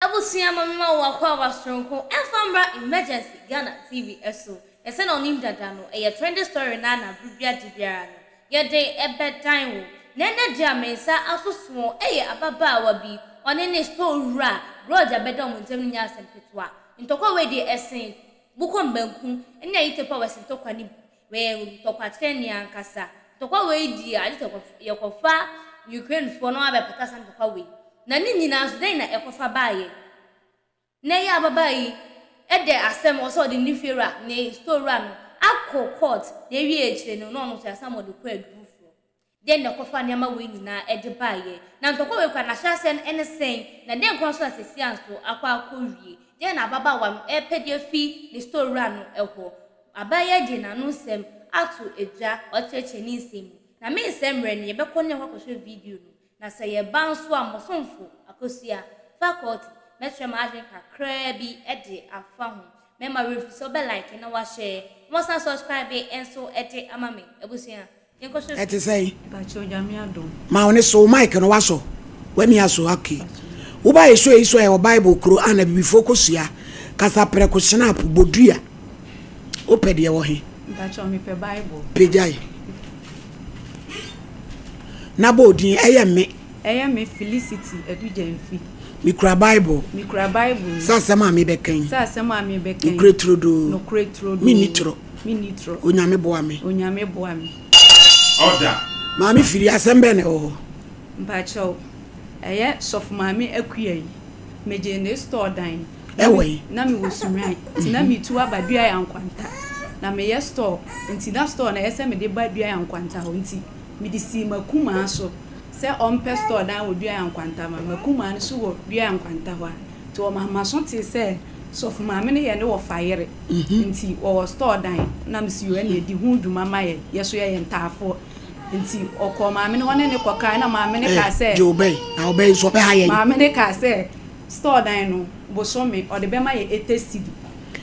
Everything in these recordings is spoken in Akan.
Abusua ma me ma wo akwaaba soronko ɛnfa mmra emergency Ghana TV ɛso na sɛnea ɔnim dada no ɛyɛ trending story naa na bere bia de biara no yɛde ɛbɛdan wo na ɛnɛ deɛ a me nsa aso soɔ ɛyɛ ababaawa bi ɔne ne store wura Grudge a bɛda wɔn ntɛm no nyɛ asɛm ketewa ntɔkwa wei deɛ ɛsen bukɔ mbanku ɛne ayitepo a wɔse ntɔkwa no bi Wɔyɛ ntɔkwakyerɛni ankasa. Ntɔkwa wei di a, agye sɛ wɔkɔfa Ukrainefoɔ na wɔabɛpata saa ntɔkwa wei. Na ne nyinaa nso, dɛn na ɛkɔfa baeɛ? Na ɛyɛ a ababaa yi de asɛm, ɔsɛ ɔde ne fiewura, ne store wura no akɔ court, na ɛwieɛ akyire no, na ɔno nso yɛasan ma ɔde kɔ aduru foforɔ. Dɛn na ɛkɔfaa nneɛma wei nyinaa de baeɛ? Na ntɔkwa wei koraa, n'ahyɛaseɛ no, ɛne sɛn? Na dɛn koraa nso na seesei nso akɔ akɔwie? Dɛn na ababaawa no repɛ de afi ne store wura no hɔ? Abaayewa de n'ano nsɛm ato dwa ɔkyerɛkyerɛ ne nsɛm mu. Na mensɛe mmerɛ no, yɛbɛkɔ na yɛakɔ akɔhwɛ video no. Na sɛ yɛba nso a, m'ɔsomfo, Akosua, Faculty, mɛkyerɛ m'adwene kakraa bi de afa ho. Mɛma werɛ mfiri sɛ wobɛ like na woahyɛ, na woasan subscribe nso de ama me. Abusua. Ɛte sɛn? Ma wo ne so mic no wasɔ. W'ani asɔ okay. Woba yɛ show yi so ɛwɔ Bible kuro a na bibifoɔ kɔ sua kasa prɛko snap bodua. Wopɛ deɛ wɔ he? Pagyae. Na bɔ odin ɛyɛ mme. Ɛyɛ me Felicity Adu Gyamfi. Mekura Bible. Mekura Bible. Sɛ asɛm a mebɛka yi. Sɛ asɛm a mebɛka yi. Nokorɛ turodoo. Nokorɛ turodoo. Menni toro. Me ni trɔ. Onyame boa me. Onyame boa me. Ɔda. Maame firi asɛm bɛn na ɛwɔ hɔ. Mpakyɛw ɛyɛ sɔfo maame akua yi me gyee ne store dan ɛwɔ yi na me wɔ sunyuan nti na me tu aba dua ya nkwanta na me yɛ store nti na store na ɛyɛ sɛ me de ba dua ya nkwanta hɔ nti me de sii makumaa so sɛ ɔmpɛ store dan wɔ dua ya nkwanta ma makumaa no so wɔ dua ya nkwanta hɔ a. Nti wɔ maso tee sɛ sɔfo maame no yɛ ne wɔfa yere nti wɔwɔ store dan na mesi o ɛne di ho dwuma ma yɛ yɛ so yɛ yɛ ntaafoɔ nti ɔkɔɔ maame no hɔ ne ne kɔ kae na maame no kaa sɛ maame no kaa sɛ store dan no bosome ɔde bɛma yɛ ete sidi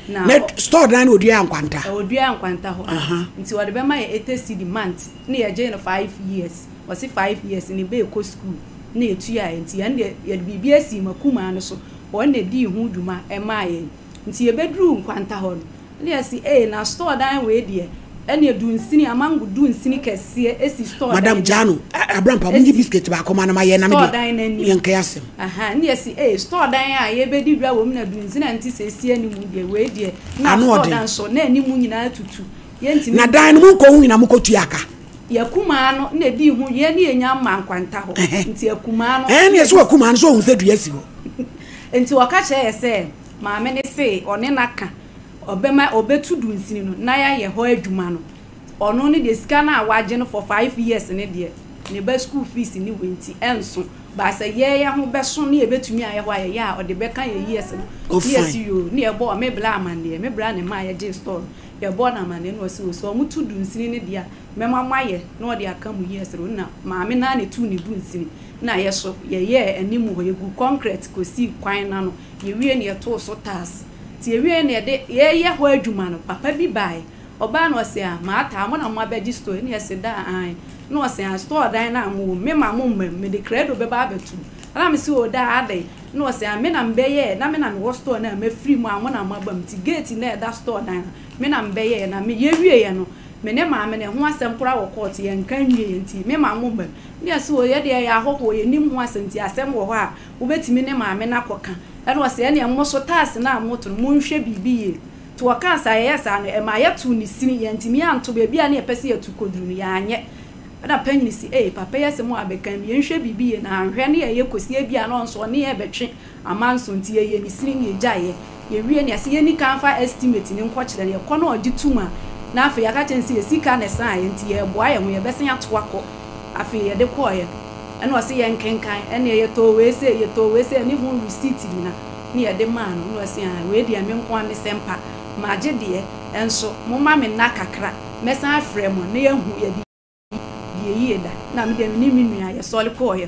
na store dan no ɔdua nkwanta ɔdua nkwanta hɔ nti ɔde bɛma yɛ ete sidi month ne yɛ gyee no five years ɔse five years ne bɛɛ kɔ school na etua yɛn, nti ɛnde yɛde biribi asii Makumaa no so, wɔn na edii ho dwuma maa yɛn, nti yɛbɛduruu Nkwanta hɔ no, na yɛse ee, na store dan wei deɛ, ɛnneɛ dunsini, amango dunsini kɛseɛ si store dan no anim. Madam, gyaa no, Abrampa, monyi biscuit baako ma no ma yɛn, na me deɛ, yɛnka yɛn asɛm. Ahaa, na yɛse ee, store dan a yɛrebɛdi dwa wɔ mu na dunsini a nti sɛ esi anim deɛ, wei deɛ, na store dan so, na anim nyinaa atutu. Na dan no mu nkɔ ho nyina mo kɔ tua ka. Yɛ kumaa no na edi ho yɛ ne yɛ nya mma nkwanta hɔ. Nti yɛ kumaa no. Ɛɛ ne yɛ so wɔ kumaa no so ohun sɛ dua si hɔ. Nti ɔka kyerɛ yɛ sɛ maame ne se ɔne na ka ɔbɛ ma ɔbɛ tu dunsini no na yɛ yɛ hɔ adwuma no ɔno ne deɛ sika no a wagye no for five years ne deɛ ne ba school fees ne wei nti ɛnso but sɛ yɛ yɛ ho bɛ so ne yɛ bɛ tumi ayɛ hɔ ayɛ yɛ a ɔde bɛ ka yɛ years no ne yɛ si yoo ne yɛ bɔ ɔme bla amanneɛ me bra ne mma a yɛ gye store no bɛbɔ no amanneɛ na ɔse o sɛ ɔmo tu dunsini no deɛ a mɛma mo ayɛ na ɔde aka mo years no na maame no ara na etuu ne dunsini na yɛ so yɛyɛɛ anim hɔ yɛguu kɔnkrɛt kɔsii kwan no ano yɛwie no yɛtoo so tiles nti yɛwieɛ no yɛde yɛɛyɛ hɔ adwuma no papa bi baeɛ ɔbaa no ɔse ah maata a mo na moabɛgye store yi na yɛse daa aane na ɔse ah store dan no a mo wɔ mu mema mo mma mu mede krado bɛba abɛto mu na mese o daa adɛn Na ɔse a me na mebɛyɛɛ na me na mewɔ store no a mafiri mu a mo na moaba mu nti gate no a ɛda store dan no me na mebɛyɛɛ na me yɛwieɛ no me ne maame no ɛho asɛm koraa wɔ court yɛnka nwieɛ nti me ma mo bam ne ɔse o yɛdeɛ yɛyɛ ahɔhoɔ yɛnim ho asɛm nti asɛm wɔ hɔ a wobɛtumi ne maame no akɔ ka ɛna ɔse ɛneɛ mo so tax no a moto no monhwɛ biribi yie nti ɔkaa saa yɛyɛ saa no ɛmaa yɛtoo ne sini yɛantumi anto baabi a ne yɛpɛ sɛ yɛto kɔduru no yɛanyɛ Ɛna panyin se, Ei, papa yi asem a abɛka mu, yɛnhwɛ biribi yie na anhwɛ ne yɛyɛ kɔsi ebia na ɔnso ɔne yɛn bɛtwe amanso nti yɛyɛ ne sini na yɛgyae yɛ. Yɛwie no, yɛse yɛnni kan mfa estimate no nkɔkyerɛ no, yɛkɔ na ɔgye tom a, na afei yɛaka akyerɛ no se yɛ sika na ɛsaeɛ nti yɛreboa yɛn ho, yɛbɛsan ato akɔ. Afei yɛde kɔeɛ no, ɛna ɔse yɛnkenkan, ɛneɛ yɛtɔɔ wei sei, yɛtɔɔ wei sei, ɛne ho receipt nyina na yɛde maa no, na ɔse, Aah, wei deɛ me nko ara mesɛ mpa, magye deɛ, ɛnso momma me nna kakra. Mɛsan afrɛ mo na yɛahu yɛde deɛ yie da. Na me deɛ me ne me nua yɛsɔre kɔɔeɛ.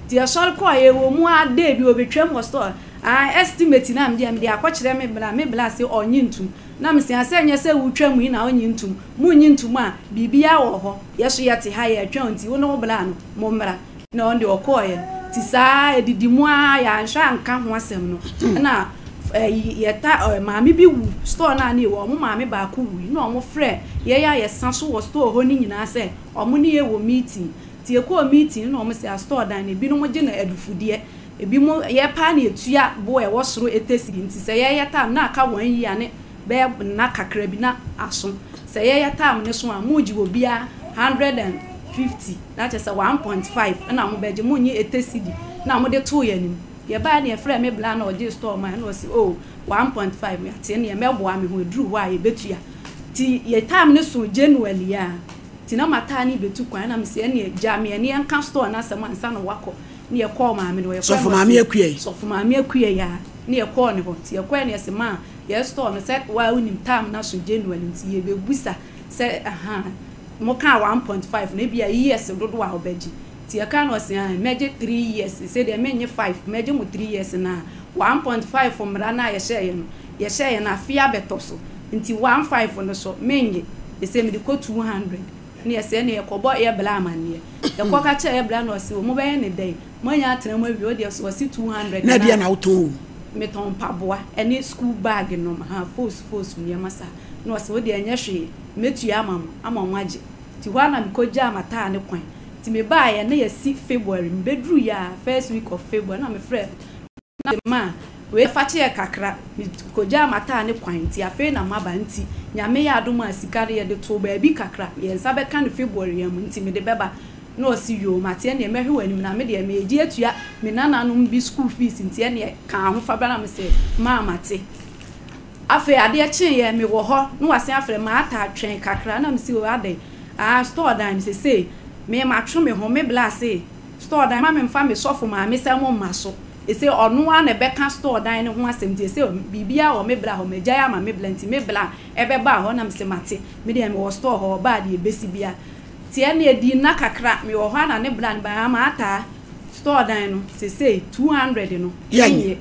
Nti yɛsɔre kɔɔeɛ, ɛwɔ mu ara day bi ɔbɛtwam wɔ store a estimate no a me deɛ mede akɔkyerɛ me bra, me bra se ɔnnye ntom. Na me se a sɛ nyɛ sɛ wotwa mu yi na ɔnnye ntom, monnye ntom a biribiara wɔ hɔ, yɛ so yɛte ha yɛretwɛn wo nti wo ne wo bra no mommra. Na ɔno deɛ ɔkɔeɛ te saa ara, ɛdidi mu ara, yɛanhwɛ anka ho asɛm no, ɛna yɛta maame bi wu store no a na yɛwɔ, wɔn maame baako wuui na wɔfrɛ yɛn a yɛsa so wɔ store hɔ no nyinaa sɛ wɔn ne yɛn wɔ meeting. Nti yɛkɔɔ meeting no na wɔn se store dan no ebinom gye no adufudeɛ, ebinom yɛpaa no yɛtua bo a ɛwɔ soro ɛtɛsiri nti sɛ yɛyɛ tam na aka one year ne bɛyɛ nna kakra bi na aso. Sɛ yɛyɛ term no so a, mogye wɔ biara one hundred and fifty, na kyerɛ sɛ one point five na mobɛgye, monnye ete cedi na mode too yɛn anim. Yɛbaeɛ no yɛfrɛɛ me bla na ɔgyee store mae, na ɔse oh, one point five, meate ɛnneɛ mɛboa me ho, ɛduru hɔ a yɛbɛtua. Nti yɛ term no soo January a, nti na mataa ne rebɛtu kwan, na mese ɛnneɛ gya me ɛnneɛ nka store no asɛm ansa na woakɔ, na yɛkɔɔ maame no hɔ, yɛfrɛɛ no ɔse Sɔfo Maame Akuei a, na yɛkɔɔ ne hɔ, nti yɛkɔeɛ no yɛse maa, Yɛ store no sɛ woa wonim term no aso January nti yɛ bɛ busa sɛ ahaa mo kaa one point five no ebia years dodoɔ a wo bɛ gye nti yɛ kaa no ɔse aah mɛ gye three years se deɛ me nye five mɛ gye mo three years na one point five mmara no a yɛ hyɛɛ yɛ no yɛ hyɛɛ yɛ no afe abɛ tɔ so nti one five no so me nye yɛ se mede kɔ two hundred ne yɛ se ɛneɛ yɛ kɔ bɔ yɛ bla amaneɛ yɛ kɔ ka kyerɛ yɛ bla no ɔse ɔmo bɛ yɛ ne dɛn Moanya atena mu awie? Wodeɛ so ɔse two hundred na. Na ɛdeɛn na wotɔn wɔ mu? Metɔn mpaboa ɛne school bag nom ha foosu foosu nneɛma saa. Na ɔse wodeɛ ɛnyɛ hwee mɛtua ama mo ama mo agye. Nti hɔ ara na mekɔgyaa m'ataa ne kwan. Nti mebaeɛ na yɛasi February. Mebɛduruiɛ a first week of February na mefrɛɛ no na mese ma wei afakyɛɛ kakra. Mekɔgyaa m'ataa ne kwan nti afei na maba nti Nyame yɛ adom a sika no yɛde too baabi kakra. Yɛnsa bɛka no February a mu nti mede bɛba. Na ɔse yoo mate ɛneɛ mɛhwe w'anim na medeɛ meegye atua me nananom bi school fees nti ɛneɛ ka ahofabra na mese maa mate afei adeɛ kyeeyɛ mewɔ hɔ na wasen afrɛ maata twɛn kakra na mese oo adɛn aa store dan no sesei me matwe me ho me bla se store dan ma me mfa me sɔfo maame sɛ mo mma so ese ɔno ara na ɛbɛka store dan no ho asɛm nti ese biribiaa wɔ me bra hɔ magyae ama me bla nti me bla ɛbɛbaa hɔ na mese mate medeɛ mewɔ store hɔ ɔbaa deɛ ɛbesi biaa Tiɛ ne ɛdi nna kakra me wɔ hɔ a na ne bra ne baa ma ataa store dan no sesei two hundred no ɛnyɛ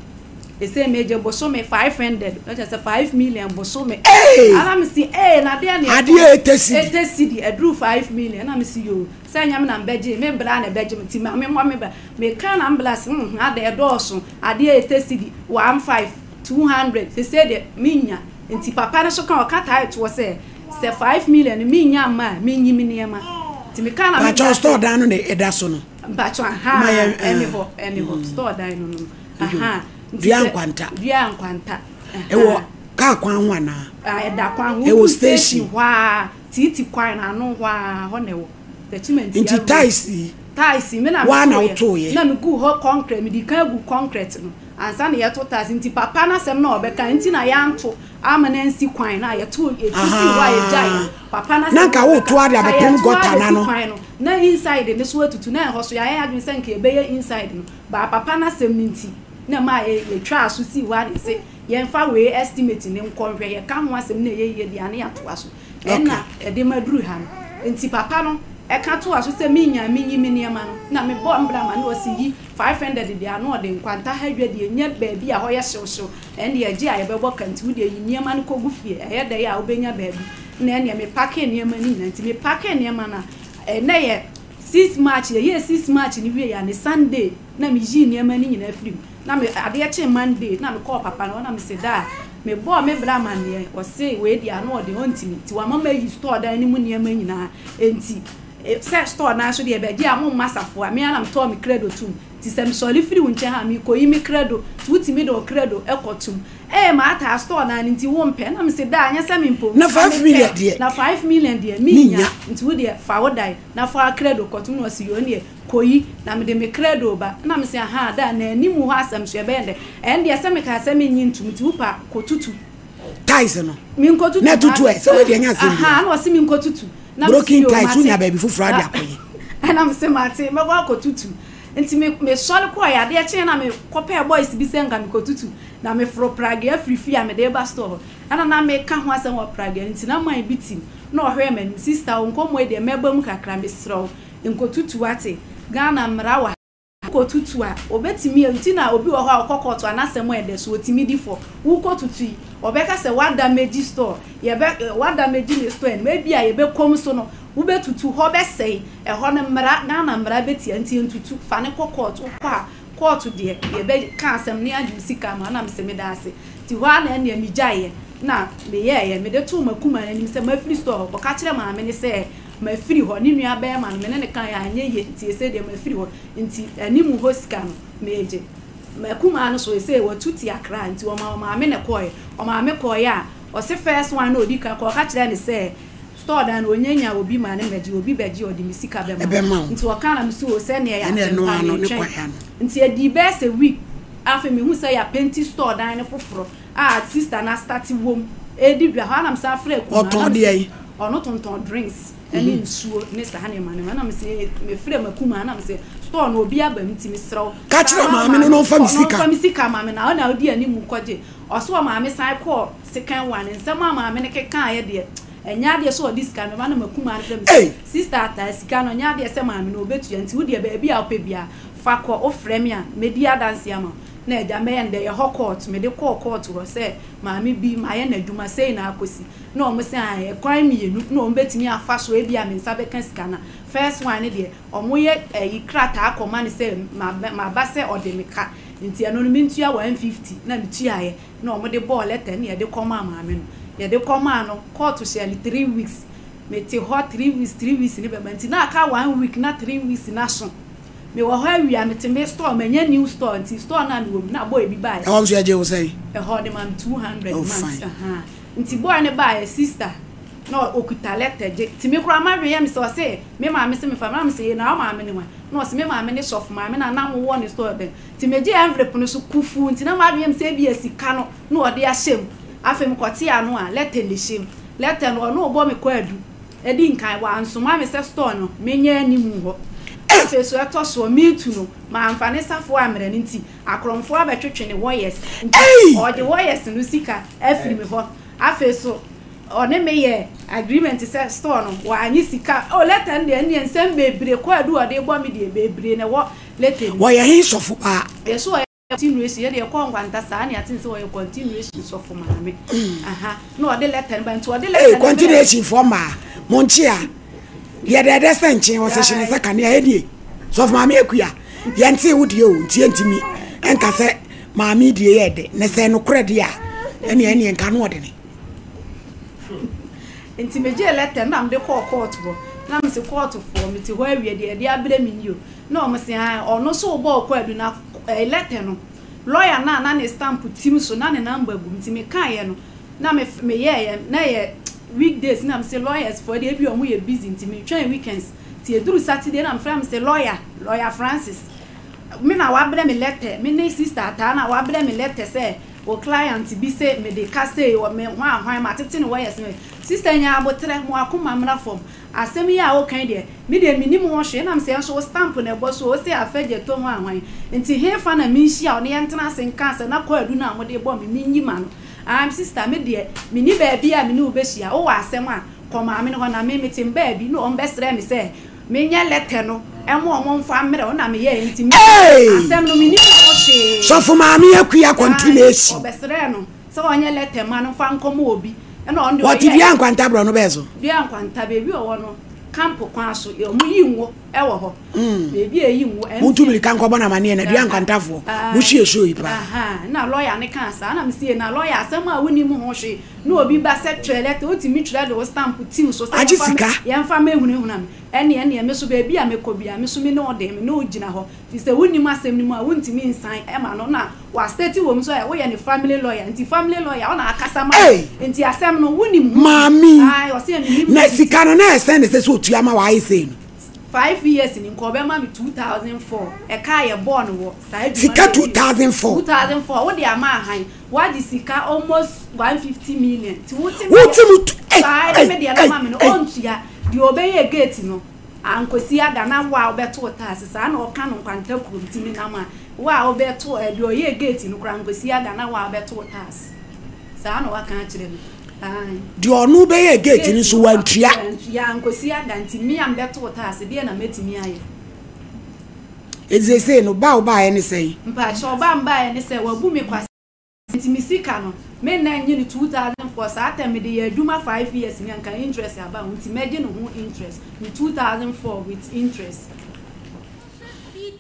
ɛsei me gye bosome five hundred no kyɛ sɛ five million bosome ah na me se ee na deɛ ne ɛtɔ eighty cedi aduru five million na me se yoo sɛ ɛnyɛ me na mbɛ gye me bra na ɛbɛ gye me ti ma me mmɔ me bra me ka na me bra se hmm hmm adɛɛ dɔɔso adeɛ eighty cedi one five two hundred sesei deɛ me nnya nti papa no so ka ɔka tae toɔ sɛ Sɛ five million no mi nya mma a mi nyi mi nneɛma ti mi ka na mi da so. Mpatsɔ store dan no na ɛda so no. Mpatsɔ ahaa ɛni hɔ ɛni hɔ store dan no no ahaa. Dua nkwanta. Dua nkwanta. Ɛwɔ kaa kwan ho anaa? Ah ɛda kwan ho. Ɛwɔ station hɔ aa tiiti kwan no ano hɔ aa hɔ na ɛwɔ. Tɛkyimantia road. Nti tiles yi. Tiles yi mi na mi to yɛ. Waa na woto yɛ. Na mi gu hɔ kɔnkrɛt mi di kan gu kɔnkrɛt no ansa na yɛ to tiles nti papa n'asɛm na ɔbɛka nti na yɛn to. Ama no ansi kwan no a yɛto yɛtu si hɔ a yɛgyae papa no asɛm a ɔbɛka ka yɛto a yɛsi kwan no na inside no so atutu na ɛhɔ so yɛayɛ adwene sɛ nka yɛbɛyɛ inside no baa papa no asɛm no nti na ɛmaa yɛtwaa so sii hɔ a na yɛse yɛmfa wei estimate no nkɔ nhwɛ yɛka ho asɛm na ɛyɛ yie deɛ a na yɛatoa so Ɛnna ɛde ma duru ha no. Enti papa no ka toaa so sɛ, Minyaa a minyi me nneɛma no, na mebɔɔ mbra ma no, ɔse, Yi five hundred de ano ɔde nkwanta ha adwa deɛ nya baabi a hɔ yɛ hyewhyew, ɛnde agye a yɛbɛbɔ ka nti wo deɛ yi nneɛma no kɔgu fie, ɛyɛ dɛ yɛ a wobɛnya baabi. Na ɛnneɛ mepakee nneɛma no nyinaa. Enti mepakee nneɛma no a, ɛnnɛ yɛ six March, yɛyɛɛ six March no wieeɛ a, ne Sunday na meyii nneɛma no nyinaa firii mu. na me adeɛ kyee Monday na me kɔɔ papa no hɔ na me se daa me bɔɔ me bra amaneɛ ɔse wei deɛ ano ɔden ɔntimi nti wama mayi store dan no mu nneɛma nyinaa nti sɛ store naa so deɛ bɛgye a mo mma safoa me ara na me tɔɔ me kredo tum nti sɛ me sɔre firi wo nkyɛn ha me kɔ yi me kredo nti wo timi de wo kredo kɔ tum ee maa taa store naa no nti wo mpɛ na me se daa nyɛ sɛ me mpɛ o na 5 million deɛ na 5 million deɛ me nya nti wo deɛ fa wo dan na fa kredo kɔ tum na ɔse yoo neɛ Kɔ yi, na mede me krado reba. Ɛnna mese, Ahaa, da a, na anim hɔ asɛm so, ɛbɛyɛ dɛn? Ɛndeɛ, sɛ mekaa sɛ mennye ntom, nti wo pɛ a, kɔtutu. Tiles no. Menkɔtutu. Na tutu ɛ, sɛ wei deɛ ɛnyɛ asɛm biara. Ahaa, ɛnna ɔse menkɔtutu. Ɛnna mese, Broken tiles, wonya baabi foforɔ ara de akɔyɛ. Ɛnna mese, Mate, mɛkɔ akɔtutu. Nti me, mesɔre kɔeɛ. Adeɛ kyeeɛ na mekɔpɛɛ boys bi sɛ nka mekɔtutu, na meforo pragea firi fie a mede reba store hɔ. Ɛnna na meka ho asɛm wɔ pragea no nti, na man bi tim. Ɛnna ɔhwɛɛ m'anim, Sista, wo nkɔmmɔ yi deɛ, mɛba mu kakra, mesrɛ wo. Nkotutu ate Ghana mmara wɔ ha. Wokɔ tutu a obetumi a nti na obi wɔ hɔ a ɔkɔ kɔɔto a n'asɛm a ɛda su otumi di fɔ. Wokɔ tutu yi ɔbɛka sɛ wada megi store yɛbɛ wada megi me store anim ebi a yɛbɛ kɔm so no wobɛ tutu hɔ bɛ sɛe ɛhɔ no mmara Ghana mmara bɛ tia nti ntutu fa no kɔ kɔɔto wokɔ a kɔɔto deɛ yɛbɛ ka asɛm no yagye wo sika ama wo na mesɛ meda ase nti hɔ a na ɛneɛ me gyaeɛ na me yɛɛyɛ mede too makuma no anim sɛ mafiri store hɔ kɔka kyerɛ maame no sɛ Mafiri hɔ. Ne nua barima no, me ne no kaeɛ a, anyɛ yie, nti ɛsei deɛ mafiri hɔ, nti anim hɔ sika no, meegye. M'akumaa no so, ɛsei watu te Accra, nti wɔmaa ɔmaame na ɛkɔɔeɛ. Ɔmaame kɔɔeɛ a, ɔse first one na ɔdi kan kɔ, ɔka kyerɛɛ no sɛ, store dan no, ɔnya nya obi ma no mmɛgye, obi bɛgye a, ɔde me sika bɛma wo. Nti ɔkaa na mese oo, sɛdeɛ ɛyɛ a, sɛ mekɔ a, meretwɛn. Nti ɛdii bɛyɛ sɛ week, afei mehunu sɛ yɛapenti store dan no foforɔ. a sister no astate wɔ mu redi dwa hɔ a na mesan afrɛ akumaa no ɔtɔn deɛ yi ɔno tontɔn drinks ɛne mm-hmm. nsuo ne saa nneɛma nneɛma na mesɛ mefrɛ m'akumaa na mesɛ store no obi aba mu nti mesrɛ wo ka kyerɛ maame no na ɔmfa me sika ɔmfa me sika maame na ɔna ɔdi anim kɔgye ɔso wɔ maame san kɔɔ second one nsɛm a maame no keka yɛ deɛ ɛnyɛ adeɛ sɛ ɔde sika mɛma na m'akumaa no frɛ me sista ataa sika no ɛnyɛ adeɛ sɛ maame no ɔbɛtua nti wodeɛ baabi a wopɛ biara Fa kɔ, wofrɛ me a, mɛdi adanseɛ ama wo. Na agya, mɛyɛ no dɛ, yɛ hɔ kɔɔto. Mede kɔɔ kɔɔto hɔ sɛ maame bi, mayɛ no adwuma sei na akɔsi. Na wɔn se ae, ɛkwan mmienu na wɔn bɛtumi afa so, ebia me nsa bɛka sika no a, first one no deɛ, wɔyɛ ayi krataa kɔma no sɛ maba sɛ ɔde me ka, nti ɛno no mentua one fifty, na metuaeɛ, na wɔde bɔɔ lɛta na yɛde kɔmaa maame no. Yɛde kɔmaa no, kɔɔto hyɛɛ no three weeks. Mete hɔ three weeks, three weeks no bɛba nti, na aka one week na three weeks no aso. Me wɔ hɔ awia me te me store manya new store nti store no a me wɔ mu na boy bi bae. Ɛhɔ nso yɛgye wo sɛn? Ɛhɔ ɔde ma me two hundred oh, months aha nti boy no baeɛ sister na ɔkuta letter gye ti me koraa ma dwen yɛ me sɛ ɔse me maame se me fa na me se na wo maame ne wan na ɔse me maame ne sɔfo maame na na mo wɔ ne store bɛn ti me gye envelope no so kufuu nti na ma dwen yɛ me sɛ ebia sika no na ɔde ahyɛ mu afei me kɔte ano a letter na ɛhyɛ mu letter no ɔno ɔbɔ me kɔ adu Edi nkan, wɔansoma me sɛ store no menyɛ anim hɔ. Afei so ɛtɔ soɔ, meat no, mamfa ne safoa ammrɛ no nti, akorɔmfoɔ abɛtwetwe ne wɔyɛs nti, ɔde wɔyɛs no sika afiri me hɔ. Afei so ɔne me yɛɛ agreement sɛ store no, wɔannye sika. Oh, letter no deɛ, ɛnneɛ nsɛm bebree, kwaadu a ɔde rebɔ me deɛ, bebree na ɛwɔ letter no mu. Ɔyɛ he sɔfo paa? Yɛse ɔyɛ. Continuation yɛ deɛ ɛkɔ nkwanta saa ne ate sɛ ɔyɛ continuation sɔfo maame aha na ɔde lɛta no ba nti ɔde lɛta no ba continuation fɔ maa mo nkye a yɛ dɛ dɛ sɛ nkyen wɔ sɛ hyɛ ne sɛ kane a ɛdie sɔfo maame akua yɛn te wo die o nti ɛntimi ɛnka sɛ maame die yɛ dɛ ne sɛ nokorɛ deɛ a ɛne ɛne nka no ɔde ne nti megye lɛta na mede kɔɔ court hɔ na mese court foɔ mete hɔ awie deɛ ɛde abrɛ me ni o na ɔmo se ɔno so bɔɔ kɔ adu na lɛtɛ no, lɔya no a na ne stamp tsim so na ne number gu mu ntsi mekãayɛ no na meyɛeɛ, na yɛ weekdays nna mese lɔyas foɔ deɛ bi a wɔyɛ busy ntsi metwɛn weekends ntsi eduru Saturday na mefrɛ mese lɔya, lɔya Francis me na wɔabrɛ me lɛtɛ, me ne sister Ataa na wɔabrɛ me lɛtɛ sɛ wo client bi se mede ka sei wɔ me hwanhwan matsetse no wɔyɛ se sister nyaa aboterɛ mo akoma mmra fam Asɛm yi a woka yi deɛ, me deɛ mennim ho hwee. Ɛnam sɛ nso wo stamp na ɛbɔ so, wose Afɛ Gyɛtɔ ho ahwan? Nti hefa na menhyia wo na yɛntena ase nka asɛm na kwaadu no a mode rebɔ me, menyi m'ano? Ahm sister, me deɛ menni baabi a me ne wo bɛhyia. Wowɔ asɛm a, kɔ maame no hɔ na me, mete me baabi na wɔn bɛsrɛɛ me sɛ menyɛ lɛtɛ no mma wɔn mfa mmerɛ wo na meyɛɛ nti me, asɛm no mennim ho hwee. Sɔfo Maame Akua continuation. Aane, wɔbɛsrɛɛ no. Sɛ ɔnyɛ lɛtɛ ma no mfa nkɔma obi na ɔno deɛ ɔyɛ. Ɔte dua nkwanta borɔno bɛɛ so. Dua nkwanta baabi a ɔwɔ no camp kwan so yɛ ɔmo yi ngo ɛwɔ hɔ baabi a eyi ngo. Mo tu mirika nkɔbɔ no amaneɛ na dua nkwanta foɔ mo hyɛ show yi paa. Ahaa na lɔya no kaa saa na me se na lɔya asɛm a wonim ho hwee na obi ba sɛ twerɛ lɛtɛ wotumi twerɛ de wo stamp tim so sɛ yɛmfa mɛhunahuna no ɛneɛ neɛ me so baabi a mɛkɔ bia me so me ne wo deɛ me ne wo gyina hɔ. Nti sɛ wonnim asɛm no mu a wontumi nsan ma no na wɔasɛte wɔm so ayɛ woyɛ ne family lawyer nti family lawyer ɔna akasa ma wo Ei! nti asɛm no wonim ho Maame yi! Ae ɔse a menim Na risiti. sika no na ɛyɛ sɛn na ɛsɛ sɛ ɔtua ma w'ayɛ sei no? Five years ni nka ɔbɛma me two thousand four ɛka a yɛbɔɔ no wɔ saa adwuma Sika no two awie thousand four? Two thousand four wode ama ahan woagye sika almost one fifty million nti wote me Wote deɛ mu tu ei! saa ɛne me ei! deɛ no ei! ma me no ei! ɔntua deɛ ɔbɛyɛ gate no Ankosi ada na wo a wobɛto wo tax saa na ɔka no nkwanta kuro nti menam a wo a wobɛto deɛ ɔyɛɛ gate no koraa ankosi ada na wo a wobɛto wo tax saa na waka akyerɛ me ae. Deɛ ɔno bɛyɛɛ gate no nso wantua. Wantua ankosi ada nti me a mebɛto wo tax deɛ na mɛtumi ayɛ. Enti seesei no ba a wobaeɛ ne sɛn? Mpakyɛw ba a mebaeɛ ne sɛ wabu me kwa. Nti me sika no me nna nye no two thousand four saa term mede yɛ adwuma five years ni anka interest aba ho nti mɛgye no ho interest me two thousand four with interest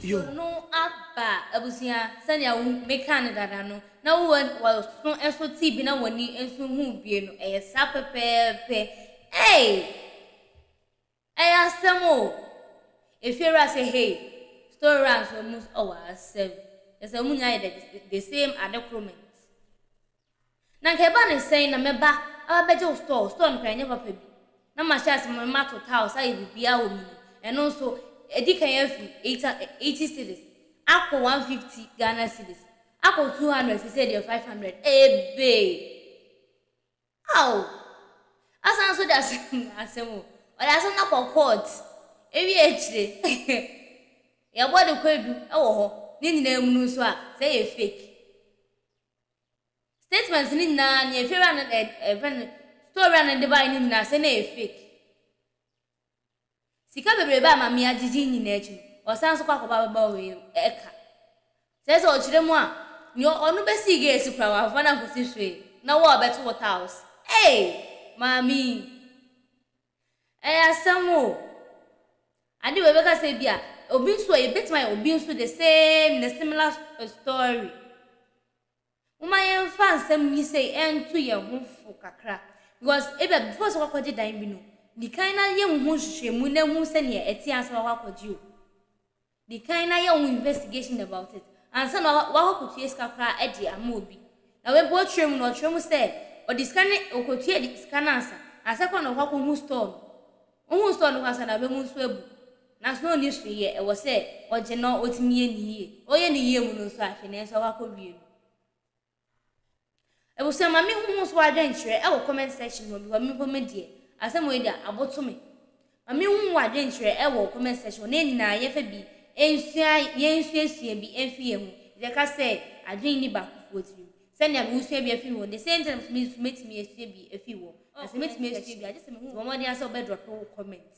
yo. Video no aba abusua sɛnea wo me kaa no dada no na wo wɔ waso nso tee bi na wani nso huu bie no ɛyɛ saa pɛpɛɛpɛ eii. Ɛyɛ asɛm o! Efiewura sɛ hey, store wura nso ɔmo nso ɔwɔ asɛm. Kyerɛ sɛ ɔmo nyinaa yɛ the same ade koro ment. Na nka ɛba ne sɛn na mɛba aba bɛgye wo store, store no koraa ɛnyɛ papa bi. Na mahyɛ ase ma mato tiles ayɛ biribiara wɔ mu no, ɛno nso edi kan afi eighty cedis akɔ one fifty Ghana cedis akɔ two hundred seisei deɛ five hundred. Ɛyɛ big! Aw! Asan nso de asem asem o. Ɔde asem no akɔ court. Ewie akyire yɛbɔ de kɔ edu wɔ hɔ. Ne nyinaa mu no nso a sɛ ɛyɛ fake. Statement no nyinaa nea efiewura no ɛɛ ɛfrɛ no store wura no de baeɛ no nyinaa sɛ na ɛyɛ fake. Sika bebrebe a Mame agyegye yi nyinaa akyi no, ɔsan nso kɔ akɔbɔ ababaawa wei ɛka. Kyerɛ sɛ ɔkyerɛ mu a, nea ɔno bɛsii geesi koraa wamfa no ankɔsi hwee, na wo a ɔbɛto wo taos. Ei! Mame yi. Ɛyɛ asɛm o. Ade wei bɛka sɛ ebia, obi nso ɛ, yɛbɛtumi ayɛ obi nso the same, the similar story. Momma yɛmfa nsɛm yi sei nto yɛn ho fo kakra, because ebia before sɛ woakɔgye dan bi no, di kan na yɛ wo ho nhwehwɛmu na hu sɛdeɛ ɛte ansa na woakɔ akɔgye o. Di kan na yɛ wo ho investigation about it ansa na woakɔ akɔtua sika koraa de ama obi. Na wei mpo ɔtwerɛ mu no, ɔtwerɛ mu sɛ ɔde sika no, ɔkɔtua sika no ansa, ansa koraa na ɔkɔ akɔhu store no. Ohun sɛ ɔno ankasa n'abamu nso abu, nanso na onni so yɛ, ɛwɔ sɛ ogye na otumi yɛ ne yiye. Ɔreyɛ ne yiye mu no nso ahwɛ nea ɛsɛ sɛ wakowie no. Abusua, ma me nhumu so adwenkyerɛ ɛwɔ comment section hɔ because me mpo me deɛ asɛm wei deɛ aboto me. Ma me nhumu wo adwenkyerɛ ɛwɔ comment section hɔ na yɛn nyinaa yɛnfa bi nsua yɛn nsuasua bi mfi yɛn ho. Yɛka sɛ adwene nni baakofoɔ tirim. Sɛnea wusua bi afi wɔn de, sɛnea nti na me nso metumi asua bi afi wɔn. Na sɛ metumi asua bi a, gye sɛ mehu wɔn mmɔden ara sɛ wɔbɛdrɔpe wo comment.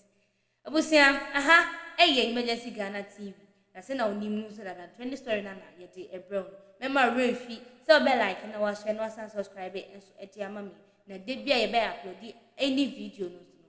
Abusua, ɛha yɛ Emergency Ghana TV, na sɛnea wunim no nso dada no, Trending Story no ara na yɛde rebrɛ wo no. Mɛmma wo werɛ mfi sɛ wobɛlike na woashare na woasan asubscribe nso de ama me. Na da biara a yɛbɛ upload any video no nso no,